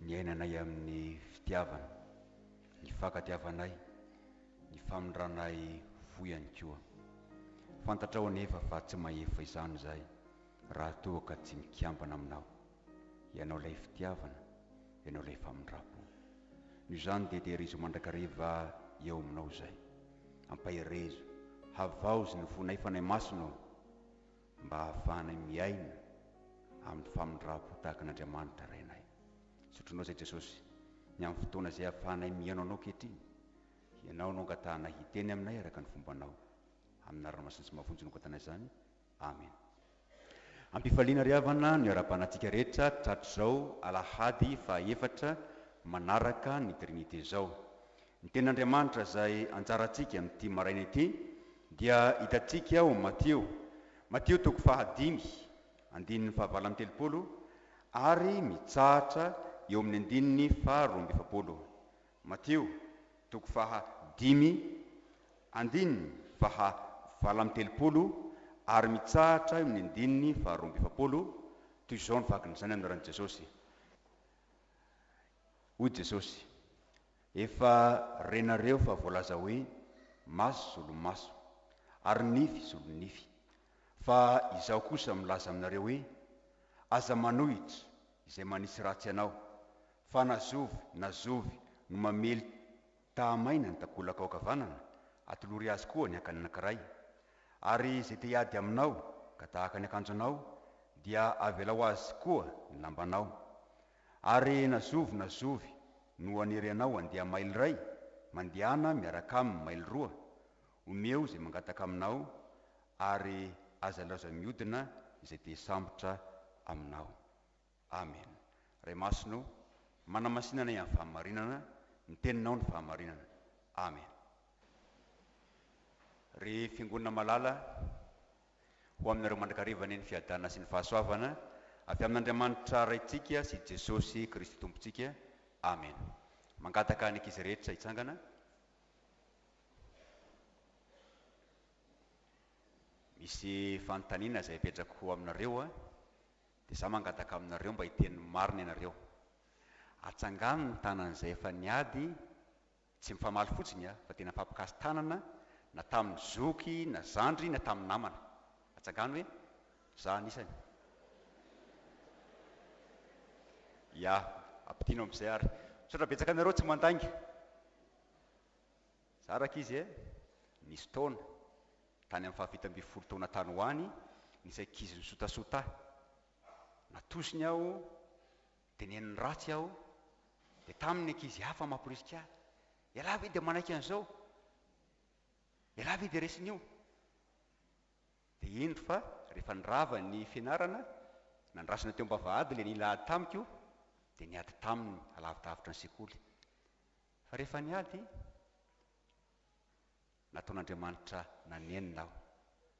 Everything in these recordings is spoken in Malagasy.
Niainanay amin'ny fitiavana, ny fankatiavanay, ny famindranay fo ihany koa. Fantatrao anefa fa tsy mahefa izany izahay raha toa ka tsy mikambana aminao. Ianao ilay fitiavana, ianao ilay famindram-po. Noho izany dia tehirizo mandrakariva eo aminao izahay. Ampaherezo, havaozy ny fonay Fanahy Masina o! Mba hahafahanay miaina amin'ny famindram-po tahaka an'Andriamanitra Rainay. Zotrinao izay Jesosy, ny amin'ny fotoana izay ahafahanay mihaino Anao ankehitriny. Ianao no angatahanay hiteny aminay araka ny fombanao. Amin'ny anarana masina sy mafonja no angatanay izany. Amena. Am-pifaliana ry havana no iarahabanatsika rehetra tratrizao alahady faha efatra manaraka ny Trinite izao. Ny Tenin'Andriamanitra izay anjarantsika amin'ity maraina ity dia hitantsika ao amin'ny Matio, Matio toko fahadimy, andininy fahavalo amby telopolo ary mitsahatra eo amin'ny andininy faharoa amby efapolo. Matio toko faha dimy, andininy faha valo amby telopolo ary mitsahatra eo amin'ny andininy faharoa amby efapolo, toy izao ny vakin'izany anaran'i Jesosy, Hoy Jesosy, Efa renareo fa voalaza hoe maso zolo maso ary nify zolo nify fa izaho kosa milaza aminareo hoe aza manohitra izay manisy ratsy anao fa na zovy na zovy no mamely tahamaina ny takolaka ao ankavanana atolory azy koa ny akany anankiray ary izay te hiady aminao ka tahaka ny akanjonao dia avelao azy koa ny lambanao Arehina zovy na zovy no hanery anao handeha maily iray? Mandehana miaraka aminy maily roa. Omeo izay mangataka aminao ary aza ilaozan'ny miodina izay te hisambotra aminao. Amen. Ray Masina o, manamasina anay amin'ny fahamarinana, ny Teninao no fahamarinana. Amen. Ry Fiangonana malala. ho aminareo mandrakariva anie ny fiadana sy ny fahasoavana avy amin'Andriamanitra Raintsika sy Jesosy Kristy Tompontsika. Amena. Mangataka ny ankizy rehetra hitsangana. Misy fanontaniana izay apetrako ho aminareo, dia izaho mangataka aminareo mba hiteny ny marina ianareo. Atsangano ny tanan'izay efa niady Tsy mifamaly fotsiny aho fa tena mifampikasy tanana na tamin'ny zoky na zandry na tamin'ny namana. Atsangano hoe za anisany. Ya, ampidino amin'izay ary. Misaotra betsaka anareo tsy mandainga. Za raka izy e, nisy taona, tany amin'ny fahafito ambin'ny folo taona tany ho any, nisy ankizy nisotasota ahy. Natosiny aho. Teneniny ratsy aho, dia tamin' ny ankizy hafa mamporisika ahy, Ialahy ve dia manaiky an' izao? Ialahy ve dia resin' io? Dia indro fa rehefa nirava ny fianarana, nandrasana teo am-bavahady ilay nila ady tamiko, dia niady taminy alavi-davitra ny sekoly. Fa rehefa niady. Nataon'Andriamanitra nanenina aho.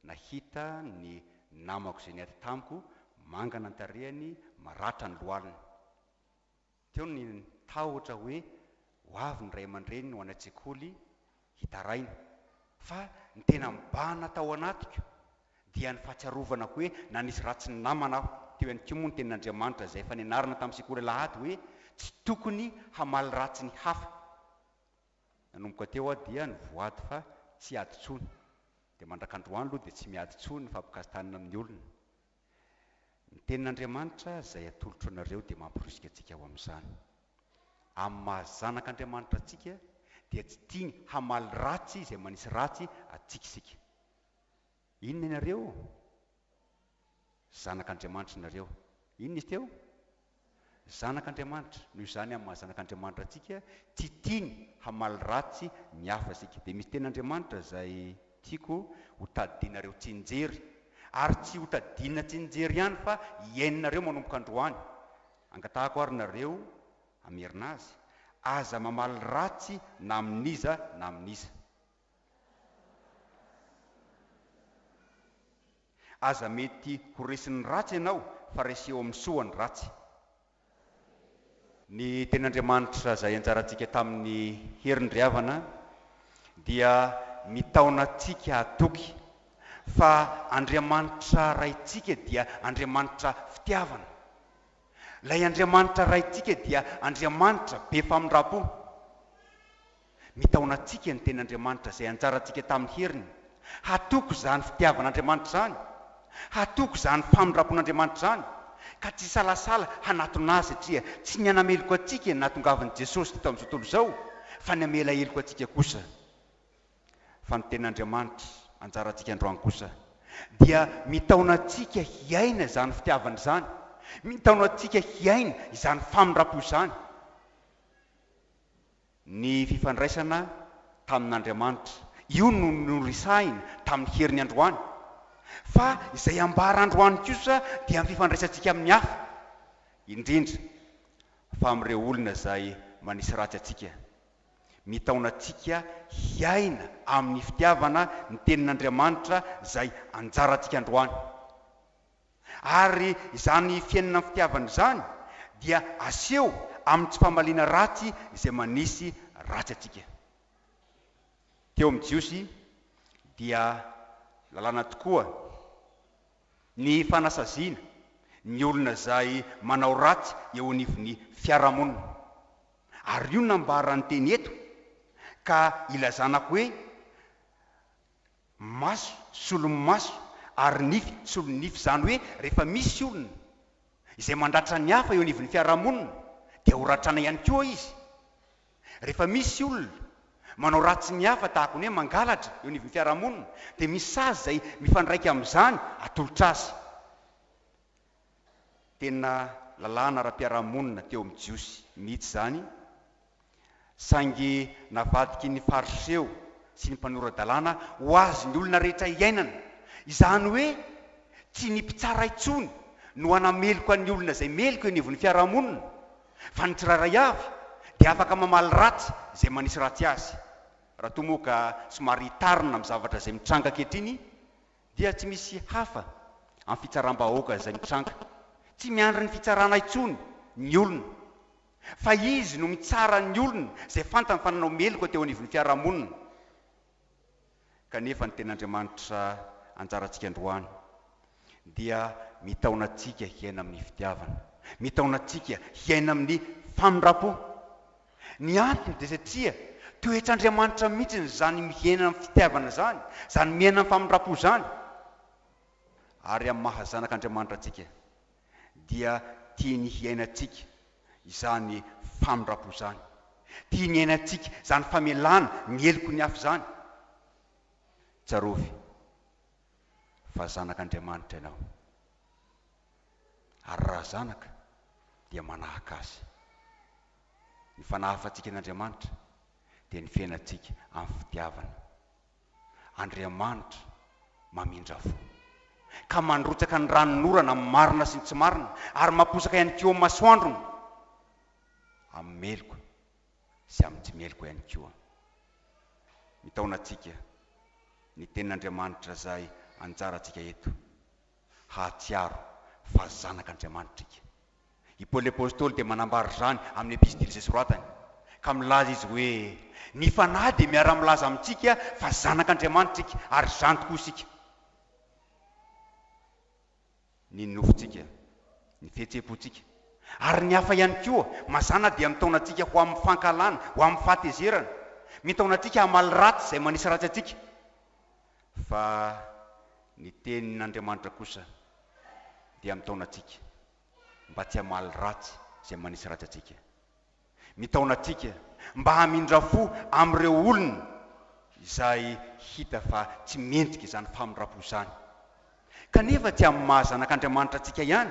Nahita ny namako izay niady tamiko mangana ny tarehiny, maratra ny lohaliny. Teo ny tahotra hoe ho avy ny ray aman-dreniny ho any an-tsekoly hitaraina. Fa ny tena mibahana tao anatiko dia ny fahatsiarovana hoe nanisy ratsy ny namana aho. Teo ihany koa moa ny tenin'Andriamanitra izay efa nianarana tamin'ny sekoly alahady hoe tsy tokony hamaly ratsy ny hafa. Nanomboka teo aho dia nivoady fa tsy hiady intsony. Dia mandrak'androany aloha dia tsy miady intsony ny fampikastahanina amin'ny olona. Ny Tenin'Andriamanitra izay atolotro anareo dia mamporisika antsika ho amin'izany. Amin'ny maha zanak'Andriamanitra antsika dia tsy tiany hamaly ratsy izay manisy ratsy antsika isika. Inona ianareo? Zanak' Andriamanitra ianareo. Inona izy teo? Zanak' Andriamanitra. Noho izany amin'ny maha zanak' Andriamanitra antsika, tsy tiany hamaly ratsy ny hafa isika. Dia misy teny Andriamanitra izay tiako ho tadidinareo tsinjery, ary tsy ho tadidina tsinjery ihany fa hiaininareo manomboka androany. Angatahako ary nareo hamerina azy, Aza mamaly ratsy na amin'iza na amin'iza. Aza mety ho resin'ny ratsy ianao fa reseho amin'ny soa ny ratsy. Ny Tenin'Andriamanitra izay anjarantsika tamin'ny heriny ry havana dia mitaona antsika hatoky fa Andriamanitra Raintsika dia Andriamanitra fitiavana. Ilay Andriamanitra Raintsika dia Andriamanitra be famindram-po. Mitaona antsika ny Teny Andriamanitra izay anjarantsika tamin'ny heriny, hatoky izany fitiavan'Andriamanitra izany, hatoky izany famindram-pon'Andriamanitra izany, ka tsy hisalasala hanatona Azy satria tsy ny hanameloka antsika no nahatongavan'i Jesosy teto amin'izao tontolo izao fa ny hamela heloka antsika kosa. Fa ny Teny Andriamanitra anjarantsika androany kosa dia mitaona antsika hiaina izany fitiavana izany, mitaona antsika hiaina izany famindram-po izany. Ny fifandraisana tamin'Andriamanitra. Io no noresahina tamin'ny herin'ny androany. Fa izay ambara androany kosa dia ny fifandraisantsika amin'ny hafa, indrindra fa amin'ireo olona izay manisy ratsy antsika. Mitaona antsika hiaina amin'ny fitiavana ny Tenin'Andriamanitra izay anjarantsika androany. Ary izany fiainana amin'ny fitiavana izany dia aseho amin'ny tsy famaliana ratsy izay manisy ratsy antsika. Teo amin'ny Jiosy dia lalàna tokoa ny fanasaziana ny olona izay manao ratsy eo anivon'ny fiarahamonina. Ary io no nambaran'ny teny eto ka ilazana hoe maso solomaso ary nify solonify izany hoe rehefa misy olona izay mandratra ny hafa eo anivon'ny fiarahamonina dia ho ratrana ihany koa izy, rehefa misy olona manao ratsy ny hafa tahaka ny hoe mangalatra eo anivon'ny fiarahamonina dia misy sazy izay mifandraika amin'izany atolotra azy. Tena lalàna ara-piarahamonina teo amin'ny Jiosy mihitsy izany, saingy navadiky ny Fariseo sy ny mpanora-dalàna ho azy ny olona rehetra hiainana, izany hoe tsy ny mpitsara intsony no hanameloka ny olona izay meloka eo anivon'ny fiarahamonina, fa ny tsirairay avy dia afaka mamaly ratsy izay manisy ratsy azy, raha toa moa ka somary hitarina amin'ny zavatra izay mitranga ankehitriny dia tsy misy hafa amin'ny fitsaram-bahoaka izay mitranga, tsy miandry ny fitsarana intsony ny olona fa izy no mitsara ny olona izay fantany fa nanao meloka teo anivon'ny fiarahamonina kanefa ny Tenin'Andriamanitra anjarantsika androany dia mitaona antsika hiaina amin'ny fitiavana, mitaona antsika hiaina amin'ny famindram-po. Ny antony dia satria toetr'Andriamanitra mihitsy izany mihena amin'ny fitiavana izany, izany mihena amin'ny famindram-po izany. Ary amin'ny maha zanak'Andriamanitra antsika, dia tiany hiainantsika izany famindram-po izany. Tiany hiainantsika izany famelana ny heloky ny hafa izany. Tsarovy fa zanak'Andriamanitra ianao. Ary raha zanaka, dia manahaka Azy. Ny fanahafantsika an'Andriamanitra dia ny fiainantsika amin'ny fitiavana. Andriamanitra mamindra fo, ka mandrotsaka ny ranon'orana amin'ny marina sy ny tsy marina, ary mamposaka ihany koa ny masoandrony, amin'ny meloka sy amin'ny tsy meloka ihany koa. Mitaona antsika ny Tenin'Andriamanitra izay anjarantsika eto, hahatsiaro fa zanak'Andriamanitra isika. I Paoly Apostoly dia manambara izany amin'ny epistily izay soratany, ka milaza izy hoe, Ny Fanahy dia miara-milaza amintsika fa zanak'Andriamanitra isika, ary izany tokoa isika. Ny nofontsika, ny fihetseham-pontsika, ary ny hafa ihany koa, mazàna dia mitaona antsika ho amin'ny fankahalana, ho amin'ny fahatezerana. Mitaona antsika hamaly ratsy izay manisy ratsy antsika. Fa ny tenin' Andriamanitra kosa dia mitaona antsika mba tsy hamaly ratsy izay manisy ratsy antsika. Mitaona antsika mba hamindra fo amin' ireo olona izay hita fa tsy mendrika izany famindram-po izany, kanefa tsy amin' ny maha zanak' Andriamanitra antsika ihany,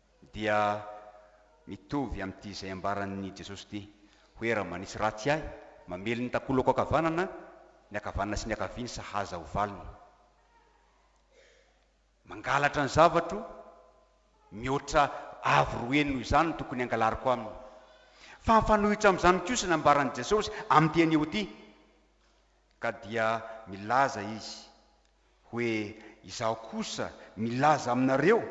dia mitovy amin'ity izay ambaran'i Jesosy ity, hoe raha manisy ratsy ahy, mamely ny takolako ankavanana, ny ankavanana sy ny ankavia ny sahaza ho valiny. Mangalatra ny zavatro, mihoatra avo roe noho izany no tokony hangalariko aminy. Fa mifanohitra amin'izany kosa ny ambaran'i Jesosy amin'ity anio ity, ka dia milaza Izy hoe izaho kosa milaza aminareo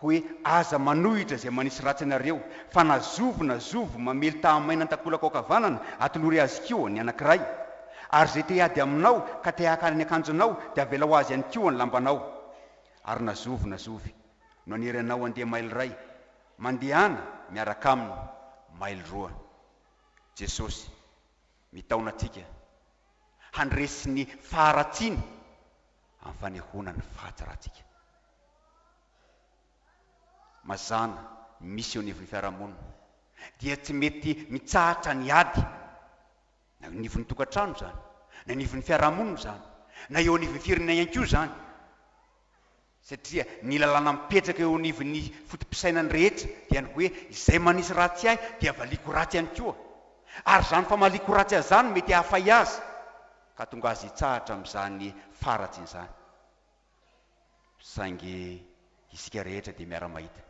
hoe aza manohitra izay manisy ratsy anareo fa na zovy na zovy mamely taha-maina an-takolaka ankavanana atolory azy koa ny anankiray ary izay te hiady aminao ka te haka ny akanjonao dia avelao azy ihany koa ny lambanao ary na zovy na zovy no hanery anao handeha mailo iray mandehana miaraka aminy mailo roa Jesosy Mitaona antsika handresy ny faharatsiana amin'ny fanehoana ny fahatsarantsika. Mazàna misy eo anivon'ny fiarahamonina dia tsy mety mitsahatra ny ady, na eo anivon'ny tokantrano izany, na eo anivon'ny fiarahamonina izany, na eo anivon'ny firenena ihany koa izany. Satria ny lalàna mipetraka eo anivon'ny foto-pisainan'ny rehetra dia ny hoe izay manisy ratsy ahy dia valiako ratsy ihany koa. Ary izany famaliako ratsy azy izany mety hahafay azy ka hatonga azy hitsahatra amin'izany faharatsiana izany. Saingy isika rehetra dia miara-mahita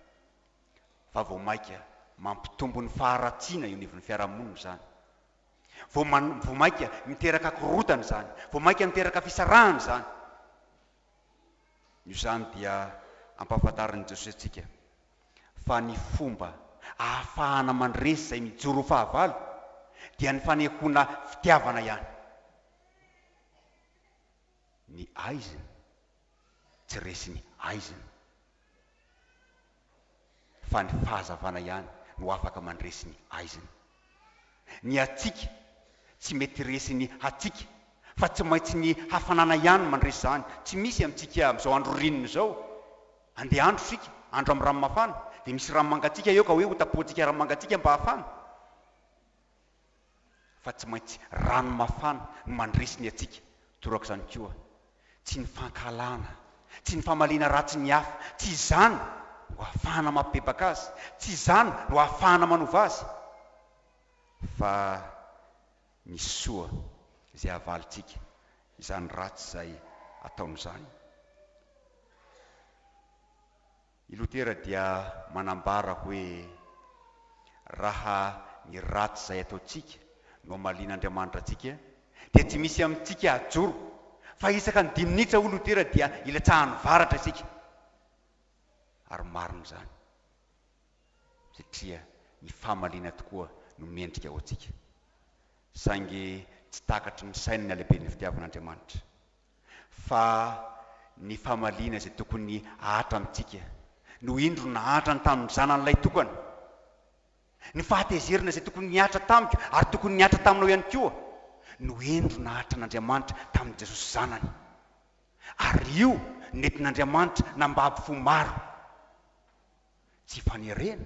fa vao mainka mampitombo ny faharatsiana eo anivon'ny fiarahamonina izany. Vao mainka miteraka korontana izany. Vao mainka miteraka fisarahana izany. Noho izany dia ampahafantarin'i Jesoa antsika fa ny fomba ahafahana mandresy izay mijoro ho fahavalo dia ny fanehoana fitiavana ihany. Ny aizina tsy resiny aizina. fa ny fahazavana ihany no afaka mandresy ny haizina. Ny hatsiaka tsy mety resin'ny hatsiaka fa tsy maintsy ny hafanana ihany mandresy izany. Tsy misy amintsika amin'izao andro ririnina izao, handeha andro isika, andro amin'ny ranomafana, dia misy rano mangatsiaka eo ka hoe hotapohantsika rano mangatsiaka mba hafana. fa tsy maintsy rano mafana no mandresy ny antsika, torak'izany koa tsy ny fankahalana, tsy ny famaliana ratsy ny hafa, tsy izany no ahafahana mampibebaka azy, tsy izany no ahafahana manova azy, fa ny soa izay havalintsika izany ratsy izay ataony izany. I Lotera dia manambara hoe, Raha ny ratsy izay ataontsika no hamalian' Andriamanitra antsika, dia tsy misy amintsika hajoro, fa isaka ny dimy minitra, hoy Lotera, dia ilatsahan'ny varatra isika. Ary marina izany, satria ny famaliana tokoa no mendrika ho antsika. Saingy tsy takatry ny sainy ny halehiben'ny fitiavan' Andriamanitra. fa ny famaliana izay tokony hahatra amintsika no indro nahantra ny tamin'ny Zanan'ilay tokana. Ny fahatezerana izay tokony nihatra tamiko ary tokony nihatra taminao ihany koa no indro nahatran'Andriamanitra tamin'i Jesosy Zanany. Ary io nentin'Andriamanitra nambabo fo maro. Tsy fanerena,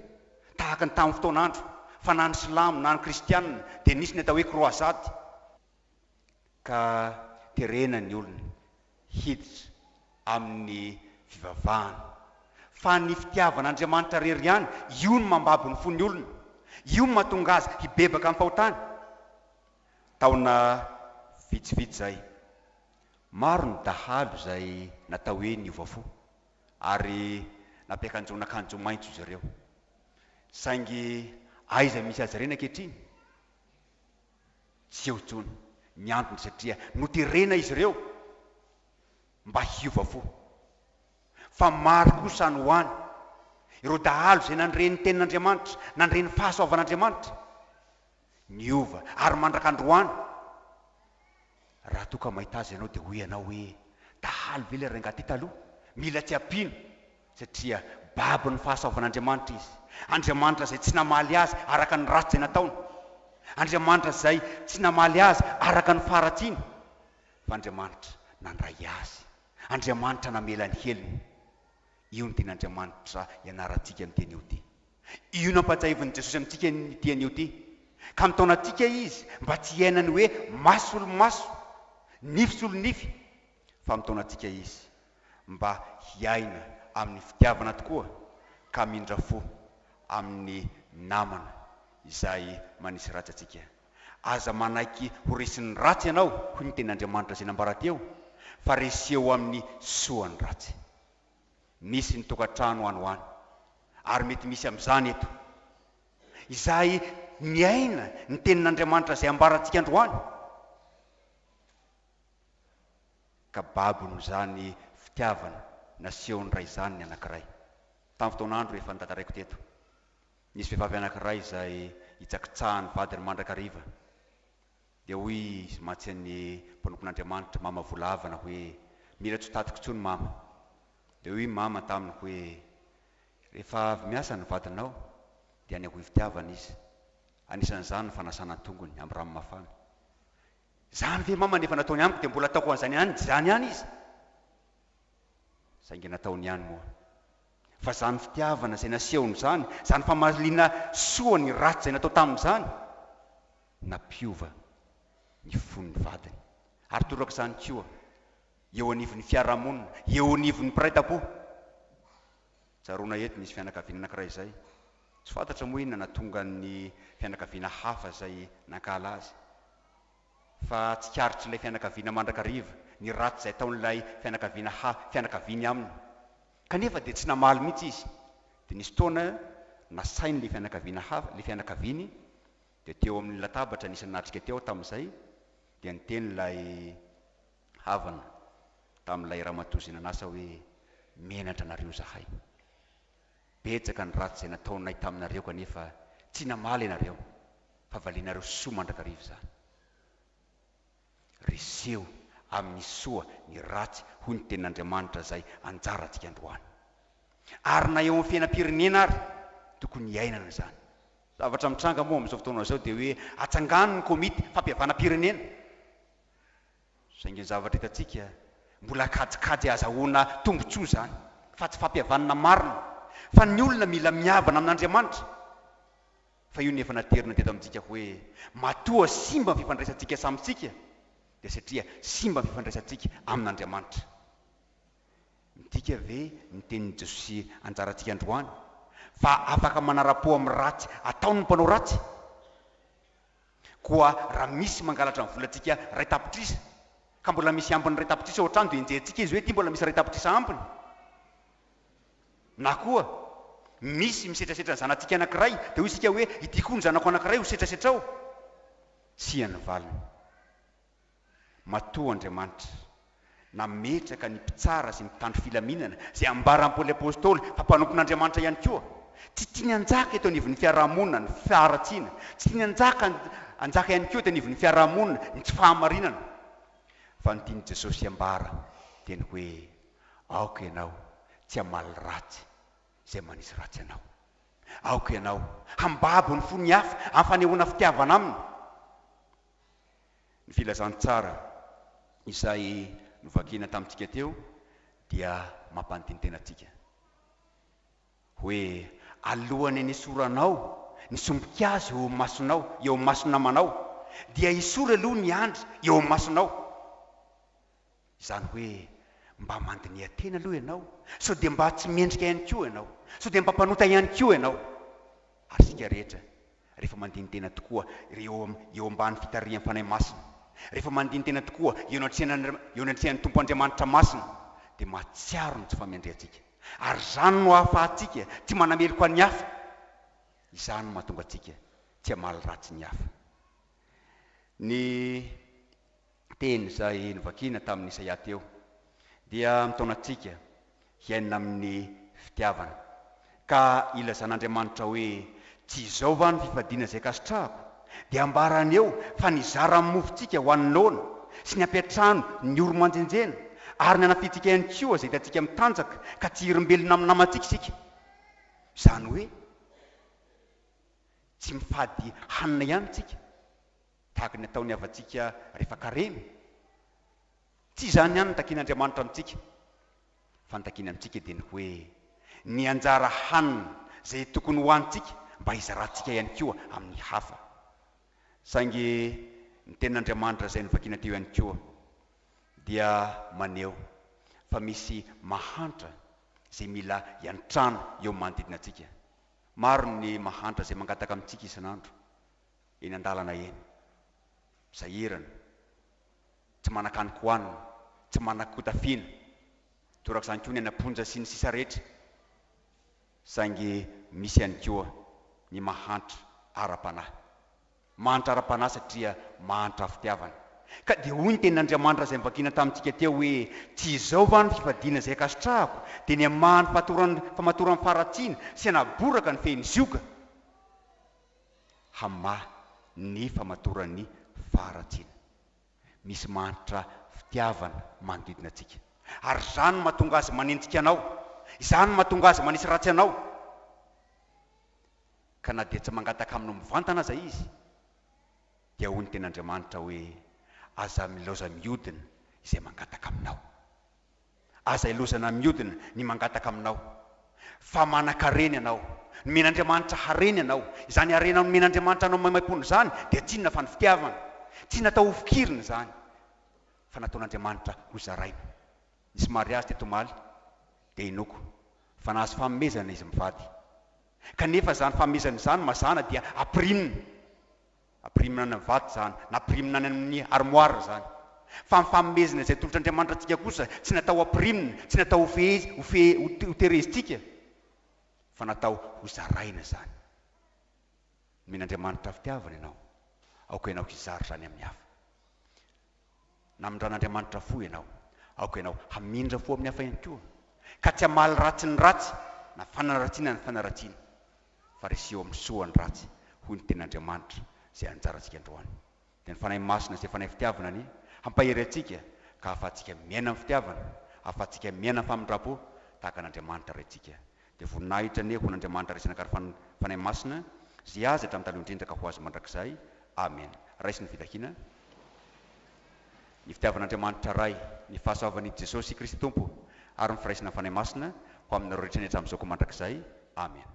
tahaka ny tamin'ny fotoan'andro, fa na ny Silamo na ny Kristianina dia nisy ny atao hoe Kroazady. ka terena ny olona hiditra amin'ny fivavahana. Fa ny fitiavan'Andriamanitra rery ihany, io no mambabo ny fon'ny olona, io no mahatonga azy hibebaka amim-pahotana. Taona vitsivitsy izay, maro ny dahalo izay natao hoe niova fo, ary nampiakanjoana akanjo maitso izy ireo. Saingy aiza misy azy ireny ankehitriny? Tsy eo intsony ny antony satria noterena izy ireo mba hiova fo. Fa maro kosa any ho any ireo dahalo izay nandre ny Tenin'Andriamanitra, nandre ny fahasoavan'Andriamanitra, niova, ary mandraka androany. Raha toa ka mahita azy ianao dia hoy ianao hoe, Dahalo ve ilay rangahy ity taloha? Mila tsy ampiana satria babon'ny fahasoavan'Andriamanitra izy, Andriamanitra izay tsy namaly azy araka ny ratsy izay nataony, Andriamanitra izay tsy namaly azy araka ny faharatsiany, fa Andriamanitra nandray azy, Andriamanitra namela ny helony. Io ny ten'Andriamanitra ianarantsika ny teny io ity. Io nampahatsiahivin'i Jesosy amintsika io teny io ity, ka mitaona antsika Izy mba tsy hiaina ny hoe maso solo maso, nify solo nify, fa mitaona antsika Izy mba hiaina amin'ny fitiavana tokoa ka mindra fo amin'ny namana izay manisy ratsy antsika. Aza manaiky ho resin'ny ratsy ianao, hoy ny Tenin'Andriamanitra izay nambara teo, fa reseho amin'ny soa ny ratsy. Misy ny tokantrano any ho any, ary mety misy amin'izany eto, izay miaina ny Tenin'Andriamanitra izay ambarantsika androany. ka babon'izany fitiavana nasehon'ny ray izany ny anankiray. Tamin'ny fotoan'andro efa notantaraiko teto, nisy vehivavy anankiray izay hitsakitsahan'ny vadiny mandrakariva. Dia hoy izy mantsy an'ny mpanompon'Andriamanitra, Mama Volavana, hoe, Mila tsy ho tatiko intsony, Mama. Dia hoy Mama taminy hoe, Rehefa avy miasa ny vadinao, dia any am-bohim-pitiavana izy. Anisan'izany ny fanasana an-tongony amin'ny rano mafana. Zany ve mama ny efa nataony amiko dia mbola ataoko an'izany ihany izany ihany izy? Saingy nataony ihany moa. Fa izany fitiavana izay nasehony izany, izany famaliana soa ny ratsy izay natao taminy izany, nampiova ny fon'ny vadiny. Ary toraka izany koa eo anivon'ny fiarahamonina, eo anivon'ny mpiray tampo. Tsaroana eto, nisy fianakaviana anankiray izay, Tsy fantatra moa inona nahatonga ny fianakaviana hafa izay nankahala azy. Fa tsikaritr'ilay fianakaviana mandrakariva ny ratsy izay ataon'ilay fianakaviana ha fianakaviany aminy. Kanefa dia tsy namaly mihitsy izy. Dia nisy fotoana nasain'ilay fianakaviana hafa, ilay fianakaviany, dia teo amin'ny latabatra nisy nanatrika teo tamin'izay, dia niteny ilay havana tamin'ilay ramatoa izay nanasa hoe, Menatra anareo izahay. Betsaka ny ratsy izay nataonay taminareo kanefa tsy namaly ianareo fa valianareo soa mandrakariva izany. Reseho amin'ny soa ny ratsy hoy ny tenin'Andriamanitra izay anjarantsika androany. Ary na eo amin'ny fiainam-pirenena ary tokony hiainana izany. Zavatra mitranga moa amin'izao fotoana izao dia hoe atsangano ny komity fampihavanam-pirenena Saingy ny zavatra hitantsika, mbola kajikajy ahazahoana tombontsoa izany, fa tsy fampihavanana marina fa ny olona mila mihavana amin'Andriamanitra. Fa io no efa naterina teto amintsika hoe, matoa simba ny fifandraisantsika samintsika, dia satria simba ny fifandraisantsika amin'Andriamanitra. Midika ve ny tenin'i Jesosy anjarantsika androany, fa afaka manara-po amin'ny ratsy ataon'ny mpanao ratsy? Koa raha misy mangalatra ny volantsika iray tapitrisa, ka mbola misy ambiny iray tapitrisa ao an-trano dia enjehintsika izy hoe ity mbola misy iray tapitrisa ambiny. Na koa misy misetrasetra ny zanatsika anankiray dia hoy isika hoe ity koa ny zanako anankiray ho setrasetra ao. Tsia ny valiny. Matoa Andriamanitra nametraka ny mpitsara sy ny mpitandro filaminana, izay ambaran'i Paoly Apostoly fa mpanompon'Andriamanitra ihany koa, tsy tiany hanjaka eto anivon'ny fiaraha-monina ny faharatsiana, tsy tiany hanjaka hanjaka ihany koa eto anivon'ny fiaraha-monina ny tsy fahamarinana, fa ny tian'i Jesosy hambara dia ny hoe, Aoka ianao tsy hamaly ratsy izay manisy ratsy anao. Aoka ianao hambabo ny fon'ny hafa amin'ny fanehoana fitiavana aminy. Ny filazantsara izay novakina tamintsika teo dia mampanintintena antsika hoe, Alohan'ny nisoranao ny sombin-kazo eo amin'ny masonao, eo amin'ny mason'ny namanao, dia esory aloha ny andry eo amin'ny masonao. Izany hoe mba mandiniha tena aloha ianao sao dia mba tsy mendrika ihany koa ianao, sao dia mba mpanota ihany koa ianao. Ary isika rehetra rehefa mandini-tena tokoa eo eo ambany fitarihan'ny Fanahy Masina, rehefa mandini-tena tokoa eo anatrehan' eo anatrehan'ny Tompo Andriamanitra Masina dia mahatsiaro ny tsy fahamendrehantsika. Ary izany no ahafahantsika tsy manameloka ny hafa, izany no mahatonga antsika tsy hamaly ratsy ny hafa. Ny. teny izay novakina tamin'i Isaia teo, dia mitaona antsika hiaina amin'ny fitiavana. Ka ilazan'Andriamanitra hoe, Tsy izao va no fifadiana izay kasitrahako? dia ambarany eo fa nizara ny mofontsika ho an'ny noana sy ny ampiantrano ny oro-manjenjena, ary nanafihantsika ihany koa izay hitantsika mitanjaka ka tsy hirimbelina amin'ny namantsika isika. Izany hoe, tsy mifady hanina ihany isika. tahaka ny ataon'ny havantsika rehefa karemy. Tsy izany ihany no takian'Andriamanitra amintsika, fa ny takiany amintsika dia ny hoe ny anjara hanina izay tokony hohanintsika mba hizarantsika ihany koa amin'ny hafa. Saingy ny Tenin'Andriamanitra izay novakina teo ihany koa dia maneho fa misy mahantra izay mila iantrana eo amin'ny manodidina antsika. Maro ny mahantra izay mangataka amintsika isan'andro. eny an-dalana eny, sahirana, tsy manan-kaniko hohanina, tsy manan kotafiana, torak'izany koa ny any am-ponja sy ny sisa rehetra, saingy misy ihany koa ny mahantra ara-panahy. Mahantra ara-panahy satria mahantra fitiavana. Ka dia hoy ny tenin'Andriamanitra izay novakiana tamintsika teo hoe, Tsy izao va no fifadiana izay ankasitrahako, dia ny hamaha ny fahatoran'ny famatoran'ny faharatsiana, sy hanaboraka ny fehin'ny zioga? hamaha ny famatoran'ny faharatsiana misy mahantra fitiavana manodidina antsika. Ary izany no mahatonga azy manenjika anao, izany no mahatonga azy manisy ratsy anao. Ka na dia tsy mangataka aminao mivantana aza izy, dia hoy ny Tenin'Andriamanitra hoe, Aza milaoza mihodina izay mangataka aminao. Aza ilozana miodina ny mangataka aminao fa manankarena ianao. Nomen'Andriamanitra harena ianao. Izany harena nomen'Andriamanitra anao maimaimpoana izany dia tsy inona fa ny fitiavana. Tsy natao hofokirina izany fa nataon'Andriamanitra hozaraina. Nisy mariazy teto omaly dia inoako fa nahazo fanomezana izy mivady. Kanefa izany fanomezana izany mazàna dia ampirinina. Ampirimina any amin'ny vato izany, na ampirimina any amin'ny armoire izany. Fa ny fanomezana izay tolotr'Andriamanitra antsika kosa tsy natao hampirimina, tsy natao hofehezina, hofehe, hoterezintsika, fa natao hozaraina izany. Nomen'Andriamanitra fitiavana ianao, aoka ianao hizara izany amin'ny hafa. Namindran'Andriamanitra fo ianao. Aoka ianao hamindra fo amin'ny hafa ihany koa, ka tsy hamaly ratsy ny ratsy na fanaratsiana ny fanaratsiana, fa resiho amin'ny soa ny ratsy, hoy ny Tenin'Andriamanitra, izay anjarantsika androany. Dia ny Fanahy Masina, izay Fanahy fitiavana, anie hampahery antsika ka hahafahantsika miaina amin'ny fitiavana, hahafahantsika miaina amin'ny famindram-po tahaka an'Andriamanitra Raintsika, Dia voninahitra anie ho an'Andriamanitra Raisina Kary Fan Fanahy Masina izay azy hatramin'ny taloha indrindra ka ho azy mandrakizay. Amena. Raiso ny fitahiana, ny fitiavan'Andriamanitra Ray, ny fahasoavan'I Jesosy Kristy Tompo ary ny firaisinan'ny Fanahy Masina ho aminareo rehetra ny hatramin'izao ka mandrakizay. Amena.